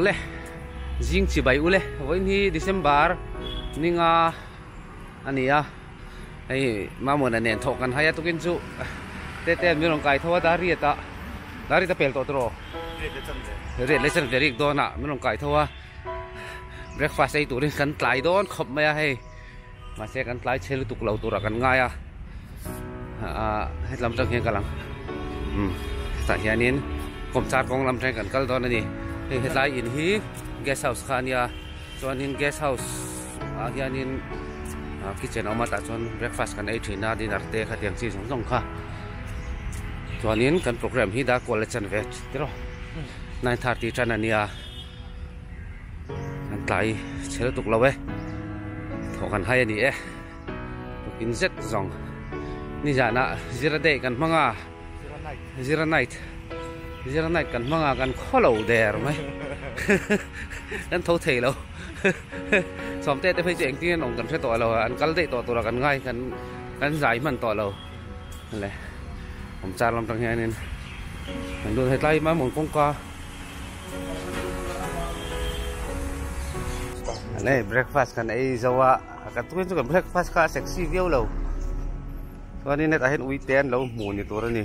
le jing chi bai ule voi ni december ninga ania ai mamona nen tho kan hai atukin chu te te mi rong kai thoa da ria ta da ri ta pel to tro ria le chan verik dona mi rong kai thoa breakfast ei turin kan tlai don khop mai a hei Mahse kan tlai chhe lutuk lo tura kan ngai a, ah hetlam tang hian ka lang umm hetah hianin kawmchar kawng lam tangin kan kal dawn a ni, hei hetlai in hi guest house kha a nia chuanin guest house ah hianin kitchen a awm a tah chuan breakfast kan ei thin a dinner te kha tiang chi zawng zawng kha chuanin kan programme hi dark Kuala chanve tiraw nine thirty tan a nia. Kan tlai chhe lutuk lo e. Thaw kan hai a ni e. Tukin zet zawng. Ni zana zira day kan hmang a. Zira night. Zira night kan hmang a. Kan khaw lo der mai. Kan tho thei lo. Sawmte te phei chu engtin an awm kan hre tawh lo a. An kal daih tawh tura kan ngai. Kan zai hman tawh lo. le awm char lam tang hian in kan duh he tlai mai mawn kawngka le breakfast kan ei zo a kan tu chu kan breakfast kha sexy viau lo chuan in hetah hian ui te an lo hmuh ni tur a ni.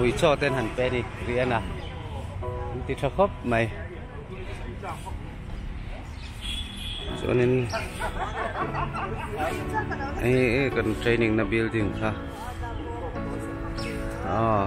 Ui chaw ten han pe ni ri ana an ti tha khawp mai chuanin hei hei kan training na building kha ah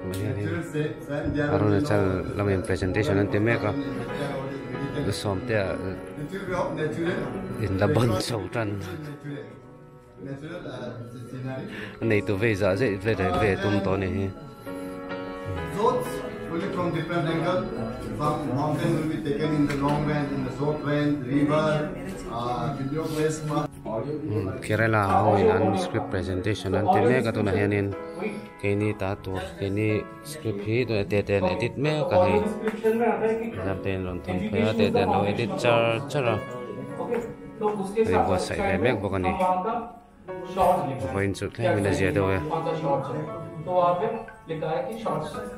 Tunhnian in Arunachal lam in presentation an ti mek a, la sawmtea in la ban chho tan. A nei tur vei zah zeh ve reng ve tum tawh a ni hi. Only from different angle, some mountain will be taken in the long range, in the short range, river, uh, video place. Kerala ho in an script presentation an ti mek a tunah hian in. Keini ta tur keini script hi tun a tete an edit mek a ni exam te in rawn thun phei a tete an lo edit char char a kan in buatsaih ve mek bawk a ni vawiin chu thleng in a ziah deuh e.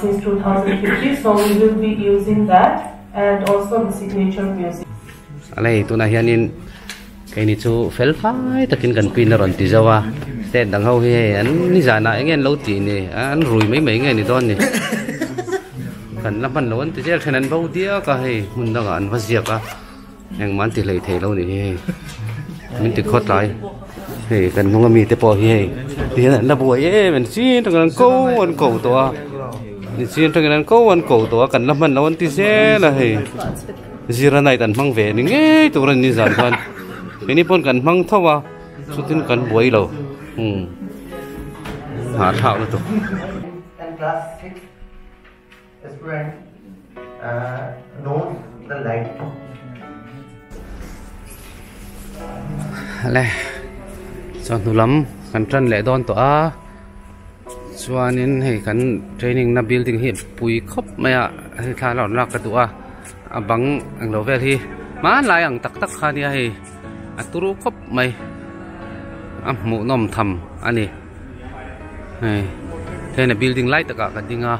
Since two thousand fifteen so we will be using that and also the signature music. A lei tunah hianin kei ni chu fel fai takin kan pin a rawn ti zo a state dang ho hi hei an ni zanah enge an lo ti ni an rui mai mai nge ni dawn ni kan la hman lo an ti zel thin an bo diak a hei hmun dangah an va ziak a. Engmah an ti hlei thei lo ni hi hei. Min ti khawt lai. Hei kan hnunga mite pawh hi hei ti hian an la buai em em. Chin tangin an ko an ko tawh a. Ni chin tangin an ko an ko tawh a. Kan la hman loh an ti zel a hei. Zira night an hmang ve ni ngei tur a ni zan chuan keini pawn kan hmang tho a. Chutin kan buai lo. Umm. Nghah thlak lutuk. Hale chuan hnulam kan tan leh dawn tawh a chuanin hei kan training na building hi pui khawp mai a hei thla rawn lak ka duh a a bang englo vel hi hmanlai ang tak tak kha nia hei a tlu khawp mai a hmuhnawm tham a ni. hei heng building lai takah ka ding a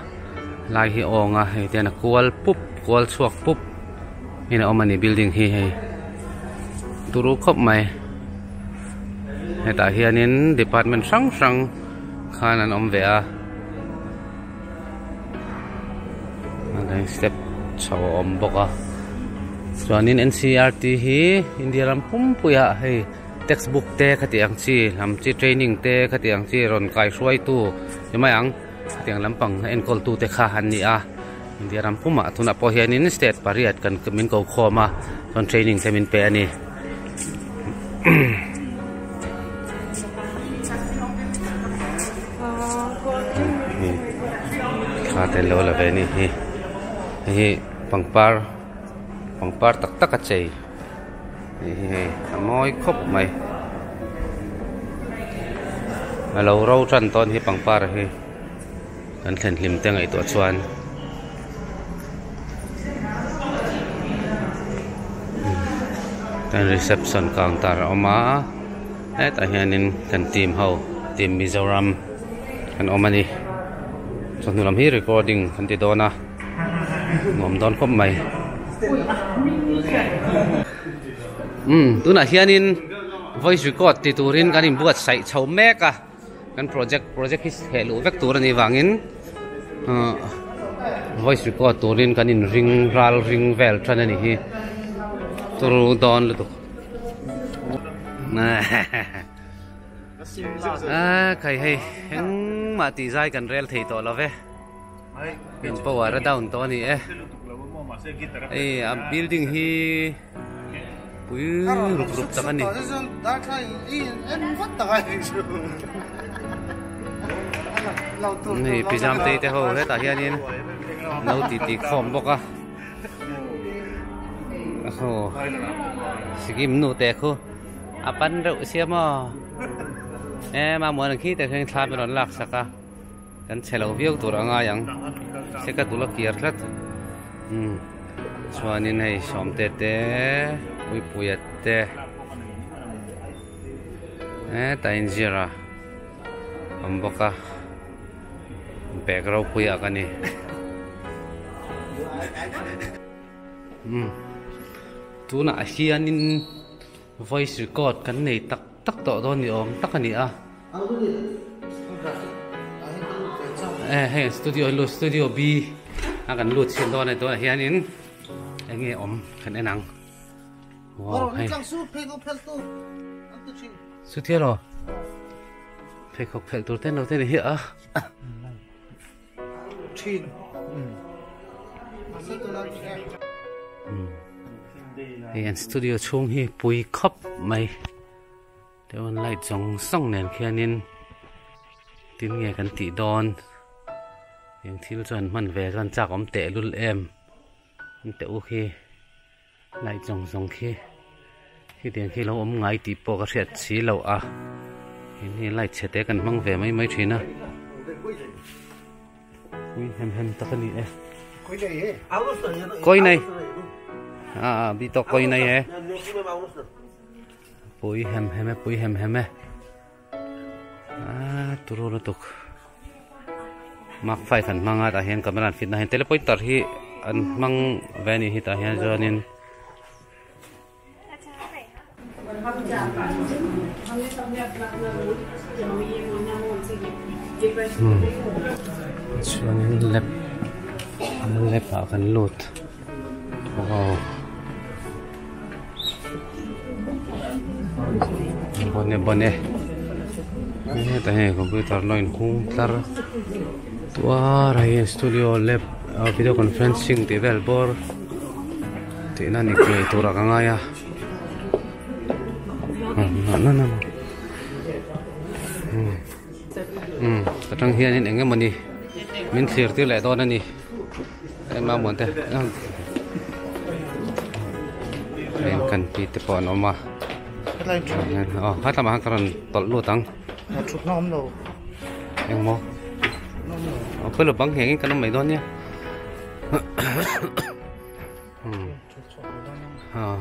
lai hi a awng a hei ten a kual pup kual chhuak pup in a awm a ni building hi hei turu khawp mai hetah hianin department hrang hrang khan an awm ve a step chho a awm bawk a chuanin ncrt hi india ram pumpuiah hei-- Text book te khati ang chi lam chi training te khati ang chi rawn kai hruai tu ti mai ang khati ang lam pang enkawl tu te kha an ni a India ram pum ah tun ah pawh hian in state pariat kan min ko khawm a chuan training te min pe a ni te lo la ve ni hi hi pangpar pangpar tak tak a chei. hei hi hei a mawi khawp mai a lo ro tan tawh a ni hi pangpar hi kan thlenhlim te ngaihtuah chuan heng reception counter a awm a hetah hianin kan team ho team mizoram an awm a ni chawhnu lam hi recording an ti dawn a. nuam dawn khawp mai umm tunah hianin voice record ti turin kan inbuat saih chho mek a kan project project hi heh luh vek tur a nih vangin uhh voice record turin kan inring ral ring vel ṭan a nih hi turu dawn lutuk eehh kei hei engmah tihzai kan rel thei tawh lo ve. min power a down tawh a ni e hei a building hi pui ruk ruk tak a ni hei pizam tei te ho hetah hianin no tih tih ka awm bawk a aw sikim nu te khu a pan reuh sia maw em a muan ang khi te hian thla min rawn laksak a Kan chhe lo viau tur a ngai ang. Se ka tul a kiar tlat. Um. Chuanin hei Sawmte te, Puipuia te. E ta in ziar a. Awm bawk a. Bag ropui ak a ni. Um. Tunah hianin. Voice record kan nei tak tak tawh dawn ni awm tak a ni a. Eh hei an studio a lut studio B a kan lut chhin dawn a ni tunah hian in eng nge awm kan en ang. Wow hei. Chu tiraw? Pheikhawk phelh tur te no te ni hi a. thin hei an studio chhung hi pui khap mai chuan light zawng zawng nen khianin tin nge kan tih dawn eng thil chuan hman ve chuan chak awm tehlul em an teh u khi. Light zawng zawng khi hetiang khi lo awm ngai tih pawh ka hriat si lo a, hemi light chhe te kan hmang ve mai mai thin a, pui hem hem tak a ni e, kawina hi, a a bi tawk kawina hi e, pui hem hem e, pui hem hem e. Aaa turu lutuk Mark five an hmang a tah hian camera an fit na hian telepointer hi an hmang ve a nih hi tah hian chuanin chuanin lab lab ah kan lut. bawne bawne hetah hian computer lo in hung tlar tuar a hei studio lab video conferencing tih vel bawr tihna ni ngei turah ka ngai a ka tang hian eng nge mawni min thlir tir leh dawn a ni. Eng mamuan te eng train kan tih te pawh an awm a helai in train hian aw he tlama khan ka rawn tawlh lut ang ah thutna awm lo engmaw thutna awm lo aw pawilo bang hengin kan awm mai dawn nia hmm ah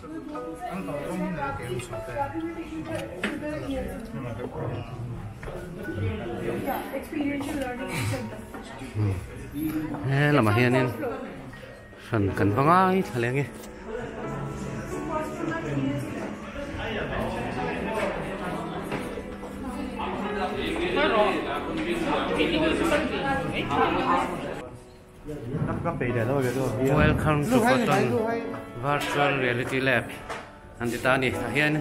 He lamah hianin hran kan va ngai thla leh nge Hello. Welcome to Cotton Virtual Reality Lab an ti ta a ni tah hian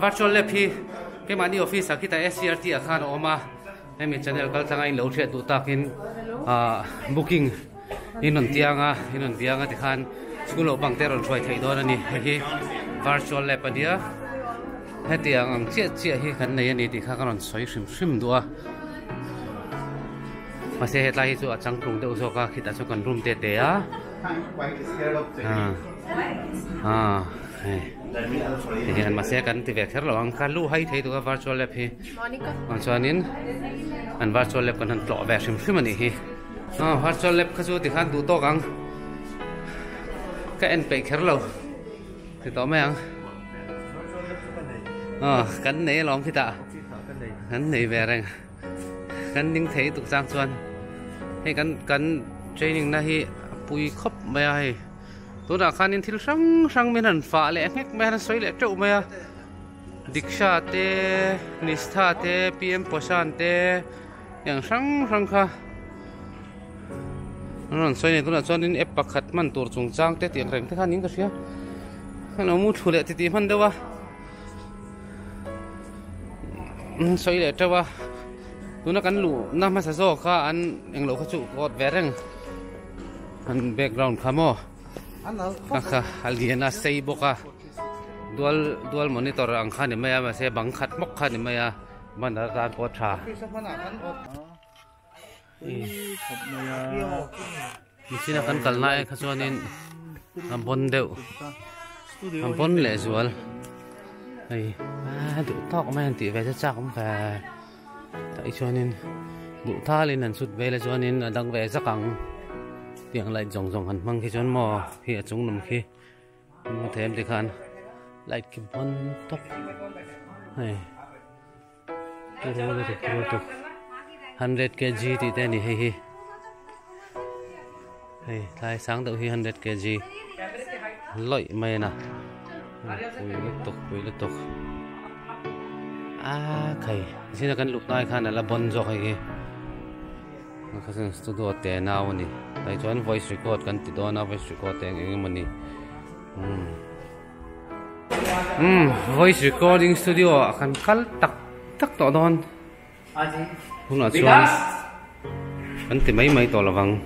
Virtual Lab hi keimahni office ah khi ta SCRT ah khan a awm a hemi channel kal thlanga in lo hriat duh tak in ah booking in rawn tiang a in rawn biang a ti khan school lo bang te rawn hruai theih dawn a ni hei hi Virtual Lab a nia heti ang ang chiah chiah hi kan nei a ni tih kha ka rawn sawi hrim hrim duh a. Mahse hetlai hi chu a chang tlung deuh zawk a, khitah chuan kan room te te a. Tihian mahse kan ti ve kher lo ang, ka lu hai thei duh a virtual lab hi. Vang chuanin an virtual lab kan han tlawh ve hrim hrim a nih hi. Virtual lab kha chu tikhan duh tawk ang, ka en peih kher lo ti tawh mai ang. Kan nei alawm khitah, kan nei ve reng. Kan ding thei tuk chang chuan hei kan kan training na hi pui khawp mai a hei tunah khanin thil hrang hrang min han fah leh nghek mai a han sawi leh teuh mai a diksha te nistha te pm poshan te eng hrang hrang kha an rawn sawi nen tunah chuan app pakhat hman tur chungchang te tih ang reng te khan in ka hria heng lo mu thu leh titih hman deuh a. sawi leh teuh a tuna kan luhna hmasa zawk kha an englo kha chu kawt ve reng an background kha maw a kha a lian a sei bawk a dual dual monitor ang kha a ni mai a mahse bang khat hmawk kha a ni mai a banner a zar pawh a tha. machine a kan kal na aia kha chuanin a bawn deuh a bawn leh zual hei a duh tawk mai an tih ve chu chak awm kha tai chuanin duh tal in an chhut vel a chuanin a dang ve zak ang tiang light zawng zawng han hmang khi chuan maw khi a chungnam khi maw thiam tikhan light khi bawn tawp hei. hundred kg tih te ani hei hi hei tlai sang deuh hi hundred kg lawih mai a ni pui lutuk pui lutuk aa khai zia kan luh hnai khan a la bawn zawk hei hi kha chuan studio te nau a ni hei chuan voice record kan ti dawn a voice record te eng eng emaw ni umm. Umm, voice recording studio a kan kal tak tak tawh dawn. Hunah chuan kan ti mai mai tawh lovang.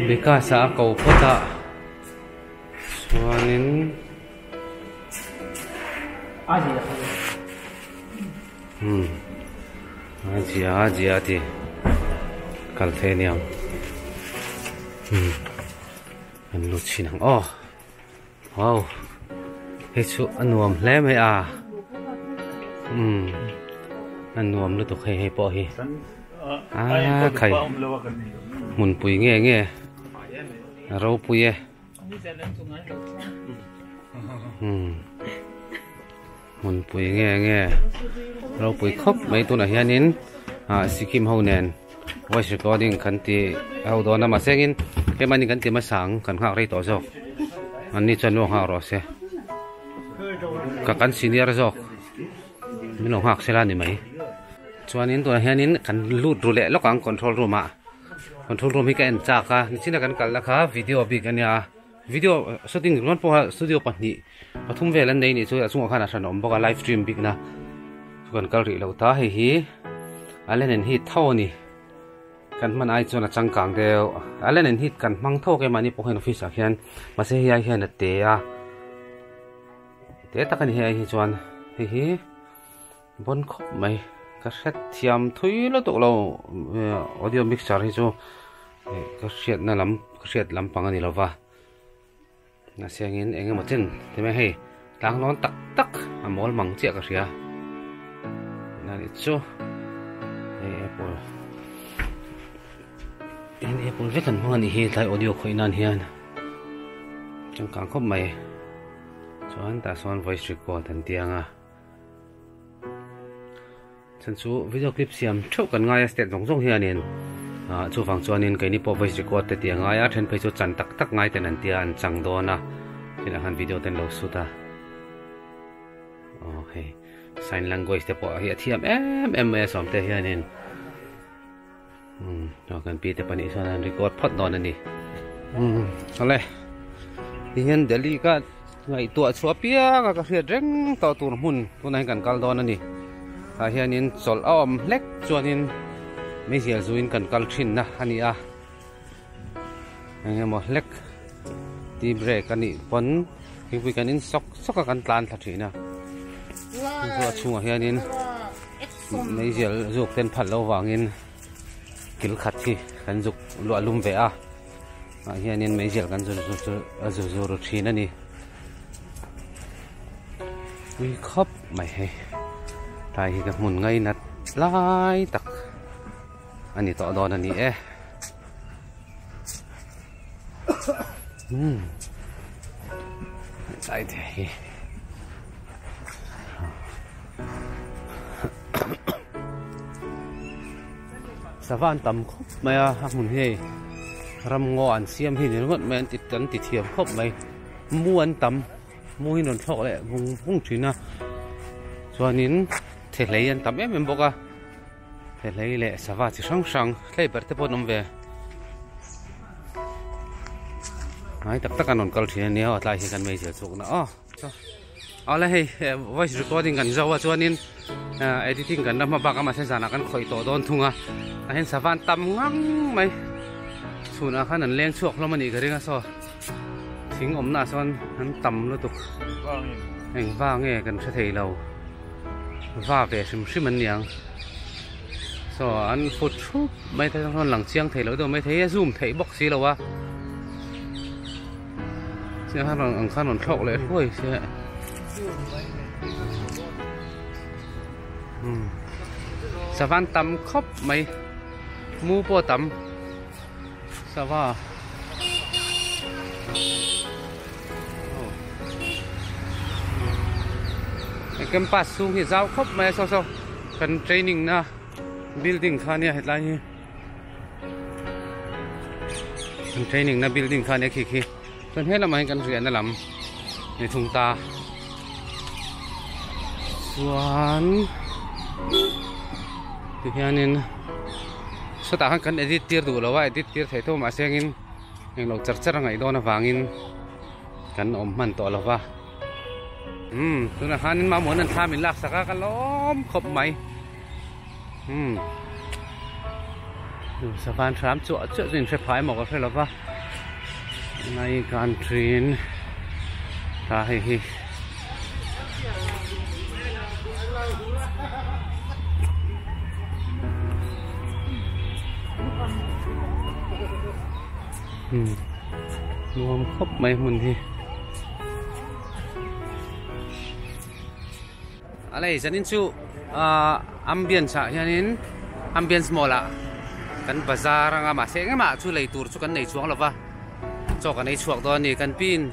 Vikas a ko phawt a. Chuanin... Umm a zia a zia a ti kal phei aniang umm an lu chhin ang aw hau hei chu a nuam hle mai a umm a nuam lutuk hei hei pawh hi aa khai hmun pui nge nge a ropui e umm. Hmunpui nge nge ropui khawp mai tunah hianin sikkim ho nen voice recording kan ti ho dawn a mahse engin tlema ni kan ti masa ang kan nghak rei tawh zawk anni chuan mi lo nghak rawh se ka kan senior zawk min lo nghak sela ni mai chuanin tunah hianin kan lut ru leh lawk ang control room ah control room hi ka en chak a nichina kan kalna kha video bik ania. Video shooting rual pawha studio pahnih pathum vel an nei ni chuan a chungah khan a hran awm bawk a live stream bikna chu kan kal rih lo ta hei hi Allen and Heath tho a ni kan hman ai chuan a changkang deuh Allen and Heath kan hmang thawk em mahni pawh hian office ah hian mahse hei ai hian a te a te tak a ni hei ai hi chuan hei hi Bawn khawp mai ka hret thiam thui la duh lo audio mixer hi chu ka hriatna lam ka hriat lampang a ni lo va na siangin eng emaw chin ti mai hei tlanglawn tak tak a mawl mang chiah ka hria na ni chu hei apple in apple vek an hmang a ni hi tlai audio khawih nan hian changkang khawp mai chuan tah sawn voice record an tiang a Chan chu video clip siam theuh kan ngai a step zawng zawng hianin ah chuvang chuanin keini pawh voice record te tih a ngai a then phei chu chan tak tak ngai ten an tia an chang dawn a tunah khan video ten lo shoot a aw hei sign language te pawh hi a thiam em em mai a sawmte hianin Kan pi te pahnih chuan an record phawt dawn a ni. Awle, ti hian Delhi ka ngaihtuah chhuah piang a ka hriat reng tawh tur hmun tunah hian kan kal dawn a ni. Tah hianin chawlh a awm hlek chuanin Meizial zuin kan kal thinna a ni a. Engemaw hlek tea break a nih pawn thingpui kan in sawk sawk a kan tlan thla thin a. Chu a chhungah hianin. Mei zial zuk ten phal lo vangin kil khat hi kan zuk luah lum ve a. Mah hianin mei zial kan zur zur chu a zur zur ru thin a ni. Ui khawp mai hei. Tlai hi ka hmun ngai nat lai tak a ni tawh dawn a ni e. Hmm. Chai te hi. Savan tam khop mai a a hmun hi. Ram ngo an siam hi nin ngot mai an tit kan ti thiam khop mai. Mu an tam. Mu hi non thlok le vung vung thina. Chuanin the hlei an tam em em bawk a. He hlei leh sava chi hrang hrang hlei ber te pawh an awm ve ngai tak tak an rawn kal thin a nia aw tlai hi kan meizia chuk na aw aw la hei voice recording kan zo a chuanin editing kan la hma bak a mahse zanah kan khawih tawh dawn thung a a hen sava an tam ngang mai chhunah khan an leng chhuak hlawm a nih ka ring a saw Thing awmnaah chuan an tam lutuk. Eng va nge kan hre thei lo. Va ve hrim hrim an niang. Saw an fut thup mai te chuan lang chiang thei loh deuh mai thei a zoom theih bawk si lo a. Chiah khan rawn ang khan rawn thlawk leh hluai se. Hmm. Savan tam khawp mai. Mu pawh a tam. Sava He campus chhung hi zau khawp mai a so so kan training na building kha nia hetlai hi kan training na building kha nia khi khi. Chuan he lamah hian kan riahna lam ni thung ta chuan tihianin sawtah khan kan edit tir duh lo a edit tir theih tawh mah se angin englo char char a ngaih dawn avangin kan awm hman tawh lo va umm tunah khan mamawh hian thla min laksak a ka lawm khawp mai. umm hnusa khan hram chuah chuah chu in hre phah emaw ka hre lova nai kan thin ta hei hi umm nuam khawp mai hmun hi. A lei zanin chu ahh ambience ah hianin ambience mall ah kan bazar anga mahse eng emah chu lei tur chu kan nei chuang lova chaw kan ei chhuak dawn a ni kan pi in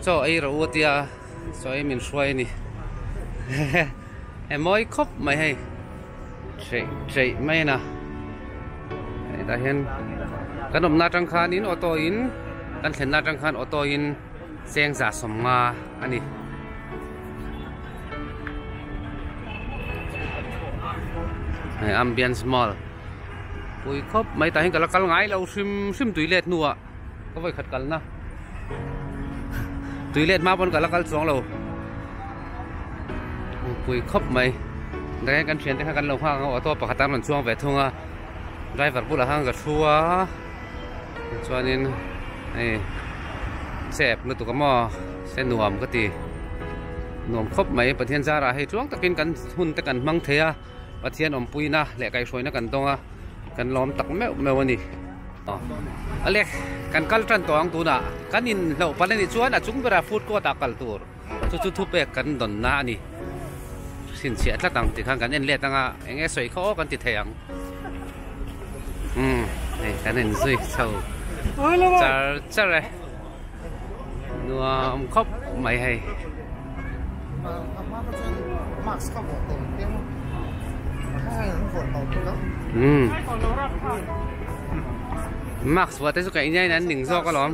chaw ei ro u a tia chaw ei min hruai a ni hehe he mawi khawp mai hei hreh hreh mai in a hetah hian kan awmna atang khan in auto in kan thlenna atang khan auto in. Chengza sawmnga a ni. Hei ambience mall. Pui khawp mai tah hian ka la kal ngai lo hrim hrim toilet hnua ka vawi khat kalna. Toilet hma pawn ka la kal chuang lo. Pui khawp mai. Dre kan thian te kha kan lo nghak ang auto pakhat an rawn chuang ve thung a. Driver bulah khan ka thu a. Tichuanin hei se ep lutuk a maw se nuam ka ti nuam khawp mai Pathian zara hei tluang takin kan hun te kan hmang thei a Pathian awmpuina leh kaihhruaina kan dawng a kan lawm tak meuh meuh a ni aw Alex kan kal tan tawh ang tunah kan inhlauh pal a nih chuan a chung berah food court ah kal tur. Chu chu thupek kan dawnna a ni. Hrin chhiah tlat ang tikhan kan en let ang a, eng nge sawi kha aw kan ti thei ang. Umm, hei kan en zui chho char char e. Nuam khawp mai hei. Umm. Max vuah te chu ka inaiin an ning zawk alawm.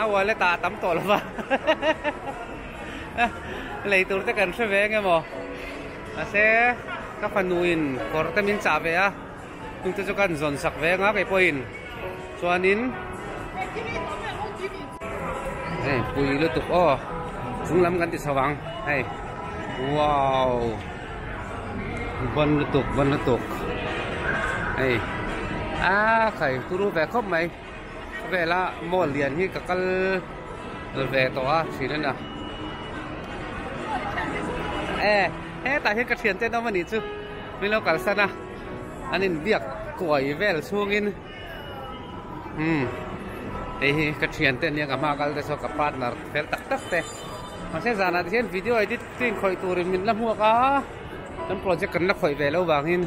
A wallet ah a tam tawh lova lei tur te kan hre ve eng emaw mahse ka fanu in kawr te min chah ve a chung te chu kan zawn sak ve anga kei pawh in chuan in hei pui lutuk aw chung lam kan ti chho ang hei wow bon lutuk bon lutuk hei a khai turu ve khawp mai vela mall lian hi ka kal ve tawh a thin ania e hetah hian ka thian ten awm ani chu mi lo kalsana an in biak kuai vel chhungin um hei hi ka thian te ania ka hma kal te chu ka partner fel tak tak te mahse zanah hian video edit tlin khawih turin min la hmuak a kan project kan la khawih ve lo vangin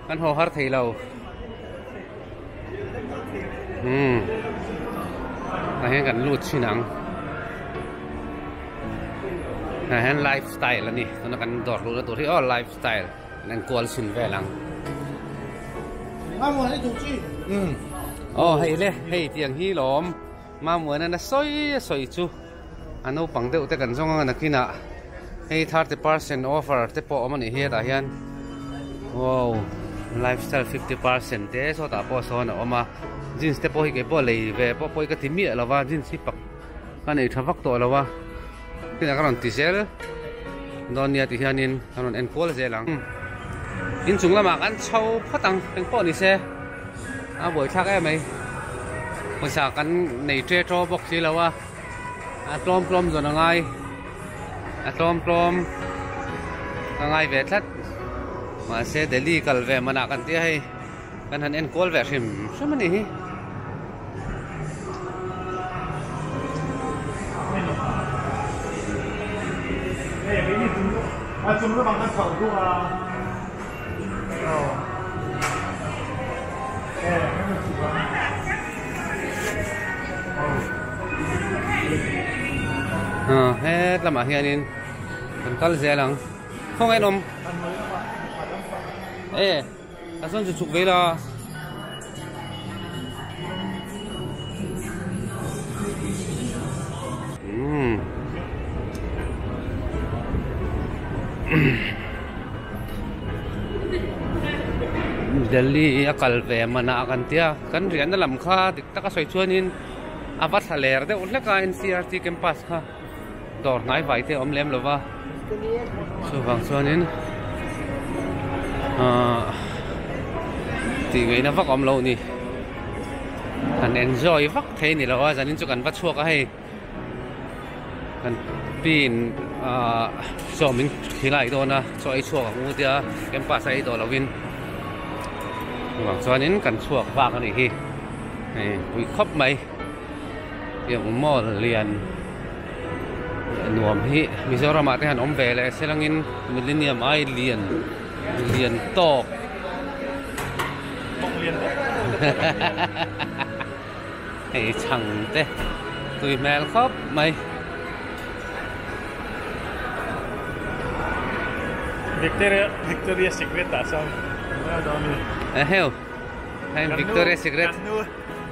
Kan haw har thei lo. Hmm. Nai hian kan lut chin ang. Nai hian lifestyle ani. Tuna kan dawr lut atur hi oh lifestyle. Nen kual chin vel ang. Mamu hei tu chi. Hmm. Oh hei le hei tiang hi lom. Mamu na na soi soi chu. A naupang deuh te kan zawng anga nakinah hei thirty percent offer te pawh awm a nih hi hetah hian wow lifestyle fifty percent te sawtah pawh sawn a awm a jeans te pawh hi kei pawh lei ve pawh pawi ka ti miah lo va jeans hi pak ka nei tha vak tawh lo va khitah ka rawn ti zel dawn nia tih hian in ka rawn en kual zel ang inchung lamah kan chho phawt ang keng pawh ni se a buaithlak em mai pawisa kan nei ṭe ṭaw bawk si lo a. A tlawm tlawm zawn a ngai a tlawm tlawm ka ngai ve tlat mahse Delhi kal ve man ah kan tia hei kan han enkual ve hrim hrim a nih hi Hey, ini tunggu, ah tunggu bang kan kau tu ah. lamah hianin kan kal zel ang khawngaih an awm e ta chuan chu chhuk vela. delhi a kal ve man a a kan tia kan riahna lam kha dik taka sawi chuan in a va thla ler deuh hlek a ncrt campus kha. dawr hnai vai te awm lem lo va chuvang chuanin ahh tih ngei na vak awm lo ni kan enjoy vak thei ni lo a zan in chu kan va chhuak a hei kan pi in ahh chaw min thi lai dawn a chaw ei chhuak ang u tia campus a ei daw lo in chuvang chuanin kan chhuak vak a nih hi hei vui khawp mai. Heng mall lian nuam hi Mizoram ah te han awm ve leh se lang in Millenium ai lian lian tawk tawk lian vek hei chhang te tui hmel khawp mai Victoria Victoria Secret ah chuan kan hmu a dawn a ni a heu heng Victoria Secret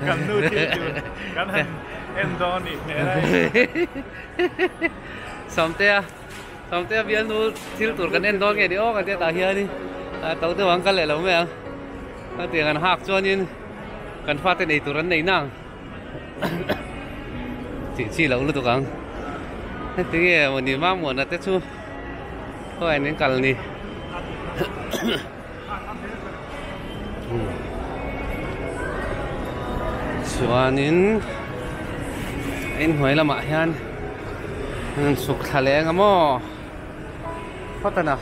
Kan nu thil tur kan han en dawn a nih hmel ai. Sawmtea, Sawmtea bial nu thil tur kan en dawn nge ni aw kan tih tah hian in a to deuh ang kal leh lo mai ang. A tiang an hak chuan in kan fate nei tur an nei nang. Chi chi lo lutuk ang. Hetiang e mawni mamuana te chu. Khawianin kal ni. chuanin inhnuai lamah hian an suk thla leng a maw phawt a na.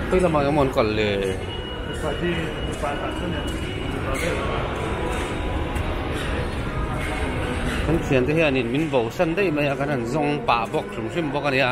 Khawih lamah emaw an kal le. Kan thian te hian in min bo san daih mai a kan han zawng pah bawk hrim hrim bawk a ni a.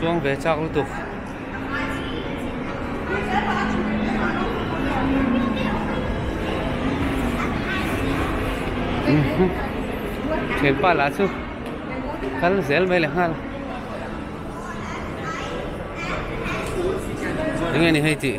chuang ve chak lutuk. thian pa lah chu kal zel mai leh nghal eng nge ni hei tih.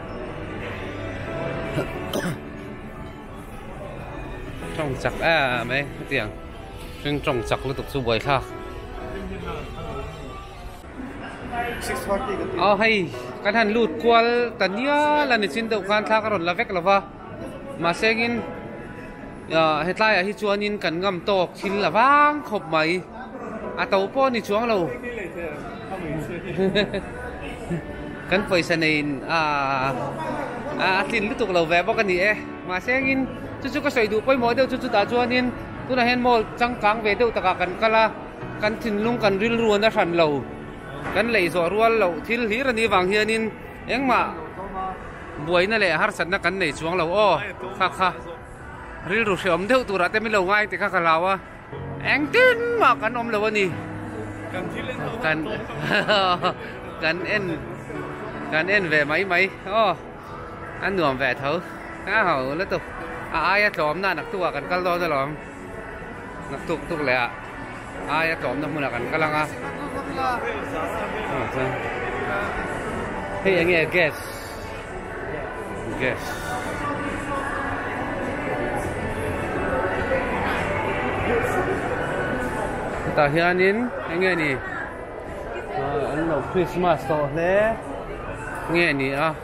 chak em mai hetiang hring tawng chak lutuk chu buai thlak aw hei kan han lut kual ta nial a ni chin deuh khan thla ka rawn la vek lo va. Mahseng in hetlai ah hi chuan in kan ngam tawk thil a vang khawp mai a to pawh ni chuang lo kan pawisa nei in a tlin lutuk lo ve bawk a ni e mahseng in chu chu ka sawi duh pawimawh deuh chu chutah chuan in tunah hian mall changkang ve deuh takah kan kal a kan thinlung kan rilru a na hran lo kan lei zawh rual loh thil hlir a nih vang hian in Engmah buaina leh harsatna kan nei chuang lo aw, kha kha. Rilru hrehawm deuh turah te min lo ngai tikha ka hlau a, engtin mah kan awm lo a ni. Kan thil en ho kan kan en kan en ve mai mai aw, a nuam ve tho. Ka hau lutuk, a aia tlawmna nak tukah kan kal dawn alawm. Na tuk tuk leh ah ai a tlawmna hmun ah kan kal ang a. Hei enge gas gas ta hianin enge ni an lo Christmas tawh hle nge ni a.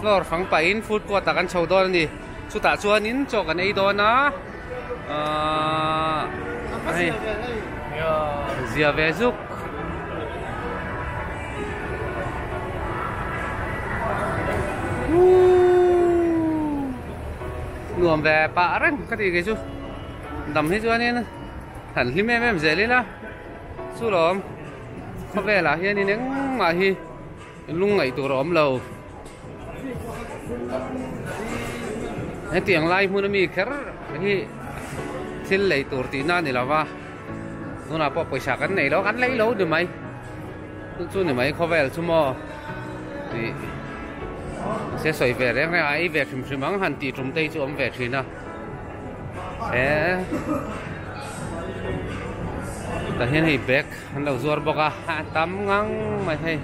Floor fang pah in food court ah kan chho dawn a ni. Chutah chuan in chaw kan ei dawn a. Zia ve zuk. Nuam ve pah reng ka tih kei chu. Dam hi chuan in han hlim em em zel ila. Chu lawm khawvelah hian in engmah hi. Lung ngaih tur a awm lo. Hetiang lai hmuna mi kher hi thil lei tur tih na ni lova. Tuna pawh pawisa kan nei lo, kan lei lo ni mai. Chu chu ni mai khawvel chu maw. Ti se sawi ve reng reng a, ei ve hrim hrim ang han tih tumte hi chu awm ve thin a. E. Tah hian hei bag An lo zuar bawk a, a tam ngang mai hei,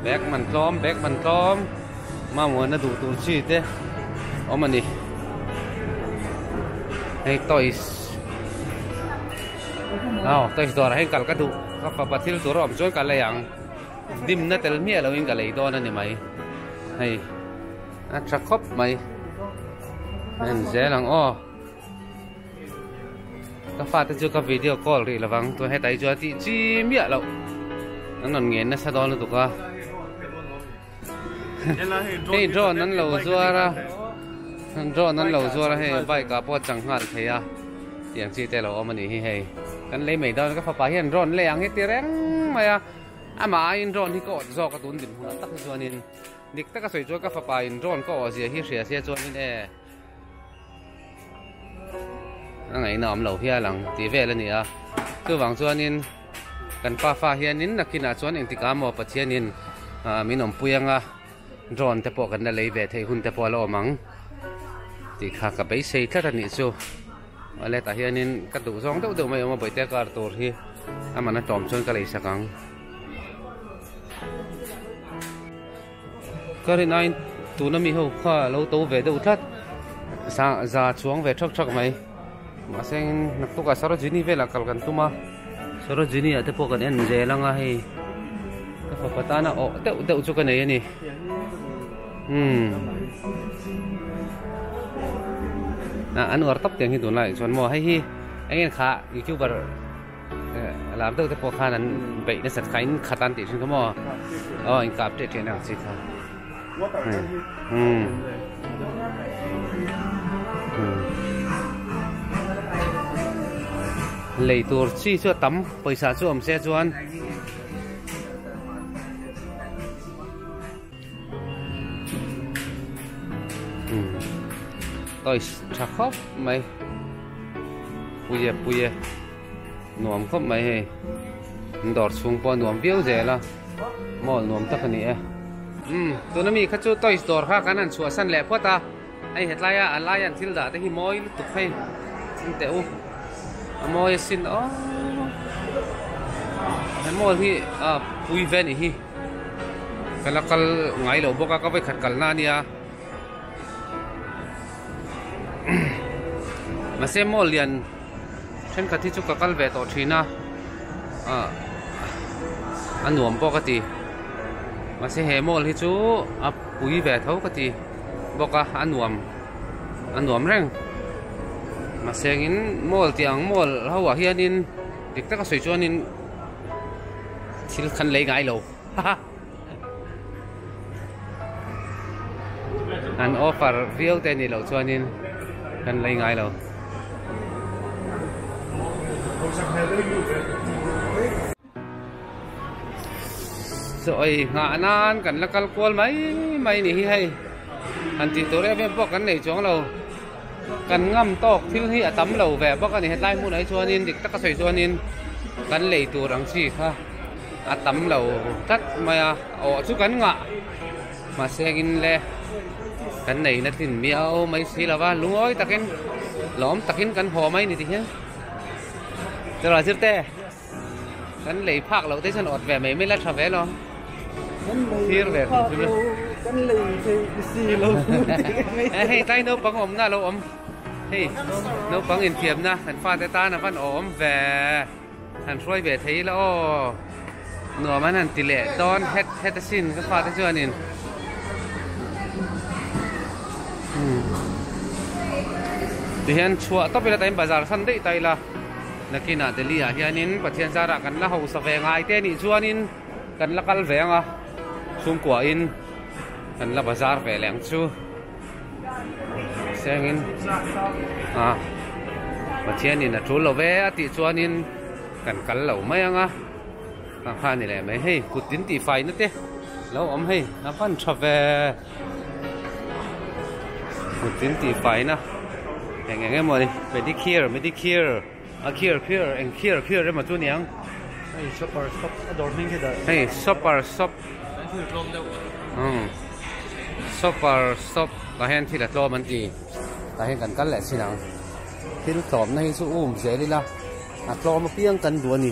bag man tlawm bag man tlawm, mamawina duh tur chi te awm a ni, hei toys aw toys dawrah hian kal ka duh ka pa pa thil tur a awm chuan ka lei ang, dimna tel miah loin ka lei dawn a ni mai, hei a tha khawp mai a inzel ang aw. Ka fate chu ka video call rih lovang tua heta hi chu a tih chi miah lo an rawn ngen nasa dawn lutuk a hei drone an lo zuar a drone an lo zuar a hei bike a pawh chang nghal thei a tiang chi te lo awm ani hi hei kan lei mai dawn ka fapa hian drone lei ang hi ti reng mai a ama in drone hi ka awt zawk a tun din hmun tak hi chuanin dik taka sawi chu ka fapa in drone ka awh zia hi hria sia chuanin e Angai na awm lo hial ang tih vel a ni a, chuvang chuanin kan pa fa hianin nakhinah chuan engtik a maw Pathianin min awmpui anga drone te pawh kan la lei ve thei hun te pawh a la awm ang tih kha ka beisei tlat a nih chu. Wallet ah hianin ka duh zawng deuh deuh mai a awm a, Bawihte kar tur hi amahna tlawm chuan ka lei sak ang. Ka rin aiin tuna mi ho kha a lo to ve deuh tlat. Sa za chuang ve thak thak mai. Mahse in hnak tuk ah Sarojini velah kal kan tum a. Sarojini ah te pawh kan en zel ang a hei. Ka fapa tana awh deuh deuh chu ka nei a ni. Umm. An uar tak tiang hi tunlai chuan maw hei hi engin kha youtuber. Lam deuh te pawh khan an beih nasat kha, in khat an tih hrim kha maw? Aw, in kap teh teh ang chi kha. Lei tur chi chu a tam, pawisa chu awm se chuan. toys tha khawp mai puia puia nuam khawp mai hei in dawr chhung pawh a nuam viau zel a mall nuam tak a ni e tuna mi kha chu toys dawr kha kan han chhuahsan leh phawt a Hei hetlaia a laian thil dah te hi mawi lutuk phei chin teh u. A mawi a sin aw. He mall hi a pui ve nih hi. Ka la kal ngai lo bawk a, ka vawikhat kalna a nia. Mahse mall lian thenkhat hi chu ka kal ve tawh thin a. A nuam pawh ka ti. Mahse he mall hi chu a pui ve tho ka ti. bawk a a nuam a nuam reng mahseng in mall tih ang mall ho ah hian in dik taka sawi chuan in thil khan lei ngai lo ha ha an offer viau te nih loh chuan in kan lei ngai lo. Sawi nghah nan kan la kal kual mai mai ni hi hei. An tih tur em em pawh kan nei chuang lo. Kan ngam tawk thil hi a tam lo ve bawk a ni. Hetlai hmunah hi chuanin dik taka sawi chuanin kan lei tur ang chi kha a tam lo tlat mai a. Awh chu kan ngah mahse engin le kan neina tlin miau mai si lo va. Lungawi takin lawm takin kan haw mai ni tihia. Chawla zirte. Kan lei phak lo te chuan awt ve mai mai la tha ve lo. Thir ve kan thil. Kan lei thei si lo. Hei tlai naupang awmna lo awm. Hei naupang infiamna kan fate tan a van aw awm ve. Han hruai ve thei la aw. Nuam an han ti leh dawn het het a sin ka fate chuanin. Tihian chhuah tawp ila tain bazar san daih ta ila. Nakinah Delhi-ah hianin Pathian zar ah kan la hausa ve ngai te nih chuanin kan la kal ve ang a, chhungkuah in kan la bazar ve leh ang chu. Seng in ah Pathian in a tul lo ve a tih chuanin kan kal lo mai ang a. Ang kha ni leh mai hei, kut in tih fai na te lo awm hei, a van tha ve. Putin tih faiin a eng eng emaw ni pedicure medicure a cure cure eng cure cure emaw chu niang hei shopper shop a dawr hming hi dah hei shopper shop kan thil tlawm deuh umm shopper shop ah hian thil a tlawm an ti tah hian kan kal leh chin ang thil tlawmna hi chu a um zel ila a tlawm apiang kan duh a ni.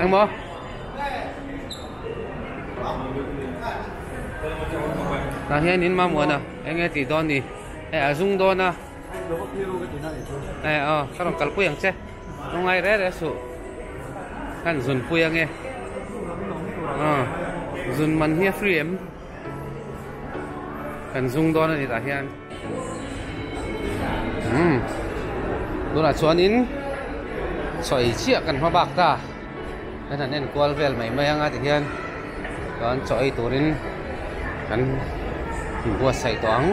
Engmaw? Ta hian in mamuana enge ti dawn ni e a zung dawn a e a ka rawn kalpui ang che rawn ngai re re su khan zunpui ange a zun man hi a free em Kan zung dawn a ni tah hian umm tunah chuan in chhawi chiah kan hma bak ta kan han en kual vel mai mai anga ti hian chuan chaw ei turin kan buatsaih tawh ang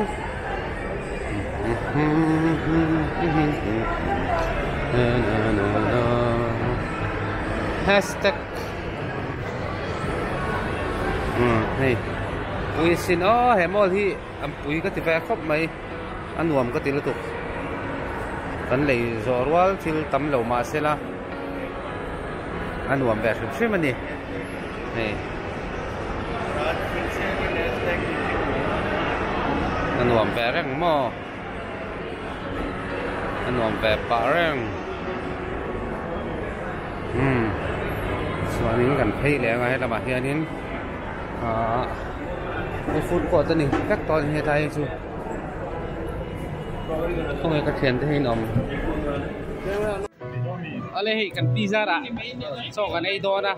hashtag umm hei pui sin aw he mall hi an pui ka ti fai khawp mai a nuam ka ti lutuk kan lei zawh rual thil tam lo mah se la a nuam ve hrim hrim a ni hei a nuam ve reng maw. a nuam ve pah reng umm chuanin kan phei leh anga he lamah hianin aaa he food court a ni tlat tawh a ni hetlai hi chu khawnge ka thian te hi an awm awle hei kan pi zara chawk an ei dawn a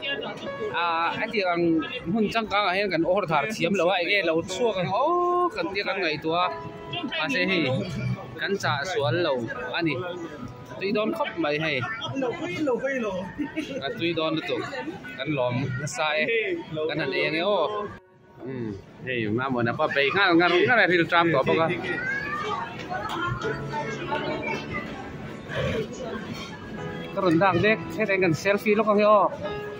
aaa hetiang ang hmun changkang ah hian kan awrh thar thiam lo a eng nge lo chhuak ang awk ang tih ka ngaihtuah a. mahse hei kan chahsual lo a ni tui dawn khawp mai hei ka tui dawn lutuk kan lawm nasa e kan han eng e aw hei mamawna pawh a bei nghal ngar ngar a ril tram tawh bawk a.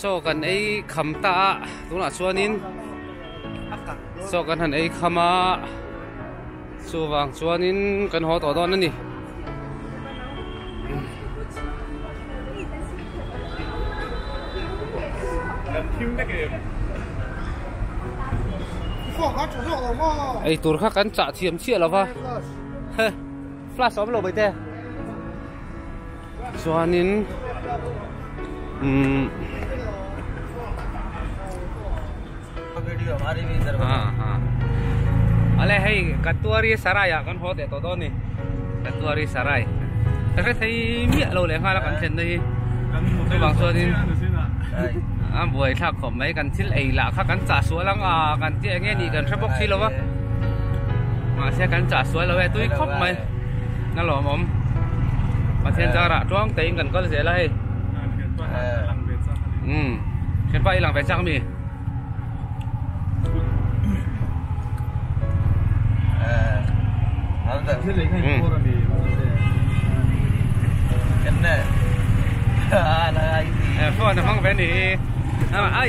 Saw kan ei kham ta a, tunah chuanin saw kan han ei kham a, chuvang chuanin kan haw tawh dawn a ni. Ei tur kha kan chah thiam chiah lo va. Flash awm lo baite. Chuanin umm Ale hei Katuari Sarai ah kan haw teh tawh dawn ni Katuari Sarai ka hre thei miah lo leh nghal a kan thlen na hi chuvang chuanin a buai thlak khawp mai kan thil ei lah kha kan chah sual ang a kan tih ang nge ni kan hre bawk si lo va mahse kan chah sual lo e tui khawp mai. Na lawm awm. Pathian zar ah tuang tein kan kal zel a hei. Umm. Thianpa hi lang ve chak mi. Phone a hmang ve ni hi.